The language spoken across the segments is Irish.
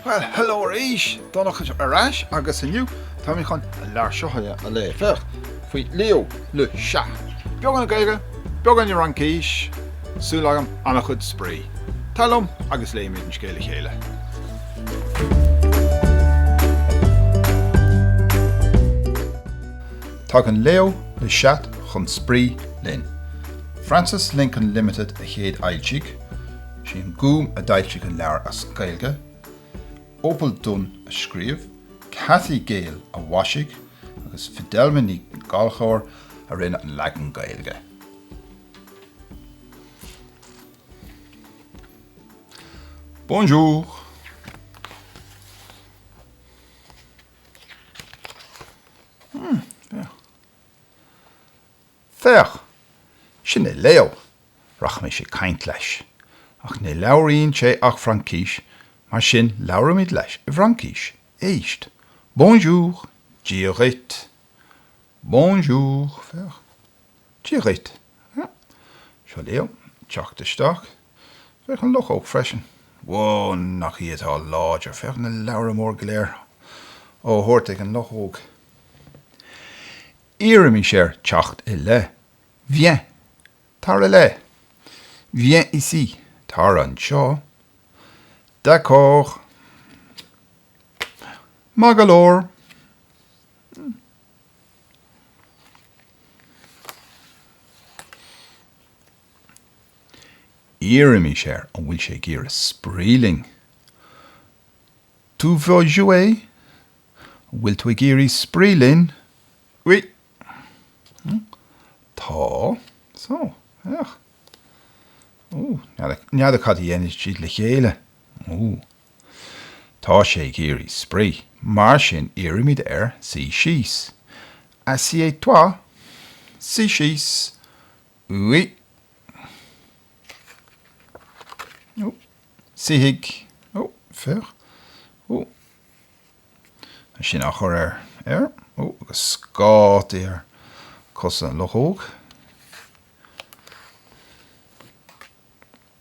Bhuel, hello arís! Donncha ar ais agus inniu tá mé chun an leabhar seo a léamh. Féach, faoi Léo le Chat. Beagán Gaeilge, beagán Fhraincis, súil agam an-chuid spraoi. Tar liom agus léimid an scéal le chéile. Tagann Léo le Chat chun spraoi linn. Frances Lincoln Limited a chéadfhoilsigh, sé An Gúm a d'fhoilsigh an leabhar as Gaeilge, Opal Dunn a scríobh, Cathy Gale a mhaisigh agus Fidelma Ní Ghallchobhair a rinne an leagan Gaeilge. Bonjour! Hmm, Féach, sin é Léo, rachaimis ag caint leis. Ach ní labhraíonn sé ach Fraincis, mar sin labhróimid leis i bhFraincis. Éist. Bonjour, Dia dhuit. Bonjour, féach. Dia dhuit. Sea. Seo Léo. Teacht isteach. Féach an luchóg freisin. Wó, nach í atá láidir! Féach na leabhra mór go léir á thabhairt ag an luchóg. Iarraimis air teacht i leith. Viens. Tar i leith. Viens ici. Tar anseo. D'accord. Maith go leor. Iarraimis air an bhfuil sé ag iarraidh spraoi linn. Tu veux jouer? An bhfuil tú ag iarraidh spraoi linn? Oui. Tá. So, féach. Ó, n'fheadar cad a dhéanfaidh siad le chéile. Ó. Tá sé ag iarraidh spraoi. Mar sin iarraimid air suí síos. Assieds-toi. Suigh síos. Oui. Ó. Suífidh. Ó, féach. Ó. Tá sin á chur air. Air. Ó, agus scáta ar cosa an luchóg.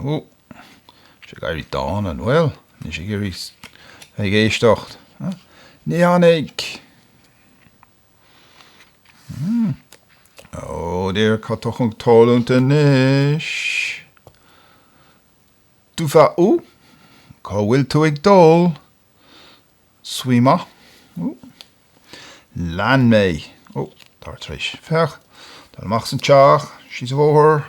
Hú! Is ag éirí dána, an bhfuil? Níl sé ag iarraidh bheith ag éisteacht. Ní tháinig! Hum. Ó, dear, cad atá chun tarlúint anois? Tu vas où? Cá bhfuil tú ag dul? Suis-moi. Ú? Lean mé. Ó, tá tar éis. Féach. Dul amach san teach. Síos an bóthar.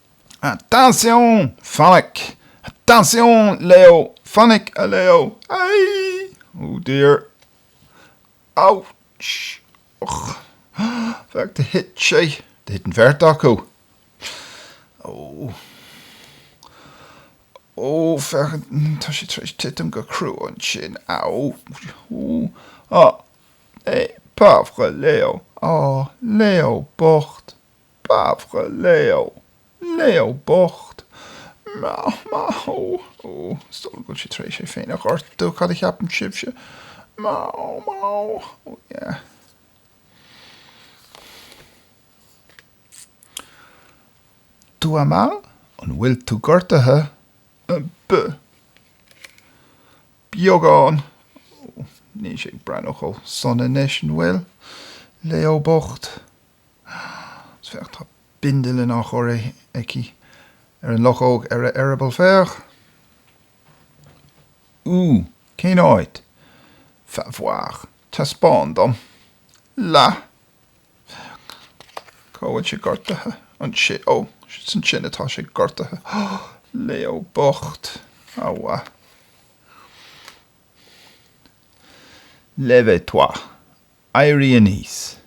Attention! Fainic! Attention! Leo! Fainic, a Leo! Aie! Oh dear! Ouch! Och! Féach, thit sé, thit an bheirt acu. Oh! Oh, féach, tá sé tar éis titim go crua ansin. Ow! Oh! Ah! É, pauvre Leo! Oh, Leo bocht! Pauvre Leo, Leo bocht. Maith, maith, ó, ó, is dóigh go bhfuil sé tar éis é féin a ghortú, cad a cheapann sibhse? Maith, ó, maith, ó, ó yeah. Tu as mal, an bhfuil tú gortaithe? B. Beagán, ó, níl sé ag breathnú chomh sona anois, an bhfuil? Leo bocht. Ach féach, tá bindealán á chur aici ar an luchóg ar an eireaball. Féach! Ú! Cén áit? Fais voir! Teaspáin dom! Là! Féach! Cá bhfuil sé gortaithe? Anseo! Ó! Is ansin atá sé gortaithe! Léo bocht! A mhaith! Lève-toi! Éirigh aníos.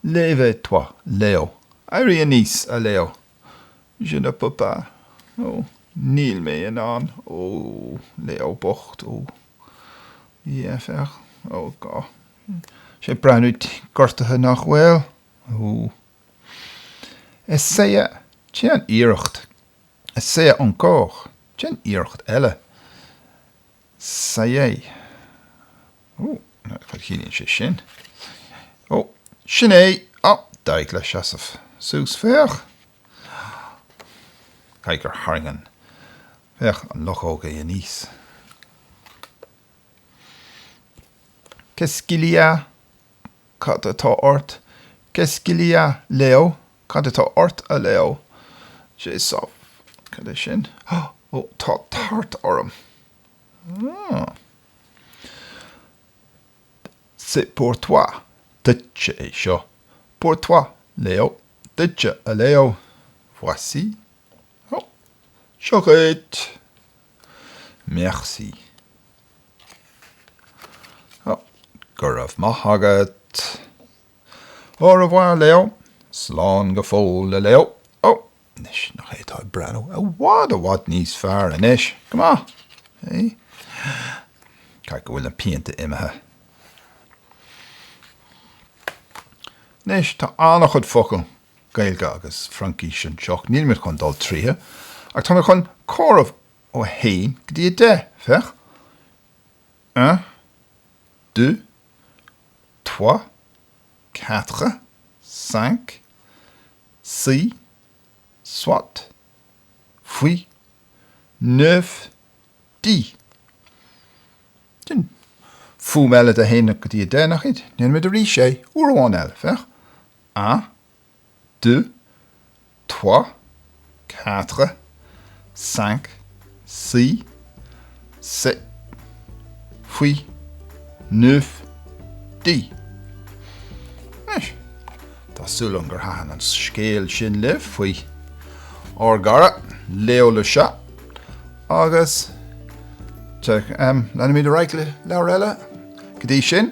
Lève-toi, Leo. Éirigh aníos, a Leo. Je ne peux pas. Ó, níl mé in ann. Ó, Leo bocht. Ó, yeah, féach. Ó, tá sé ag breathnú gortaithe nach bhfuil. Ó. Essaie, déan iarracht. Essaie encore. Déan iarracht eile. Saigh. Ó, cad a chiallaíonn sé sin? Saigh. Ó, sin é! Á, d'éirigh leis seasamh suas. Féach! Caithfidh gur tharraing an, féach, an luchóg é aníos. Pescillia Cad atá ort? Qu'est-ce qu'il y a, Léo? Cad atá ort, a Leo? J'ai soif. Cad é sin? Ó, tá tart orm. Ah. C'est pour toi. Duitse é seo. Pour toi, Leo. Duitse, a Leo. Voici. Ó, seo dhuit. Merci. Oh, go raibh maith agat. Au revoir, Leo. Slán go fóill, a Leo. Oh, anois, nach é atá ag breathnú i bhfad i bhfad níos fearr anois? Go maith. Hey? Caithfidh go bhfuil na pianta imithe. Anois, tá an-chuid focal Gaeilge agus Fraincís anseo, níl mé chun dul tríothu, ach tá mé chun comhaireamh ó a haon go dtí a deich, féach, un, deux, trois, quatre, cinq, six, sept, huit, neuf, dix. Sin fuaimniú éagsúil le a haon go dtí a deich, nach iad? Déanfaimid arís é, uair amháin eile, féach. un, deux, trois, quatre, cinq, six, sept, huit, neuf, dix. Anois, tá súil agam gur thaitin an scéal sin libh faoi ár gcara Léo le Chat agus leanfaimid ar aghaidh le leabhar eile go dtí sin.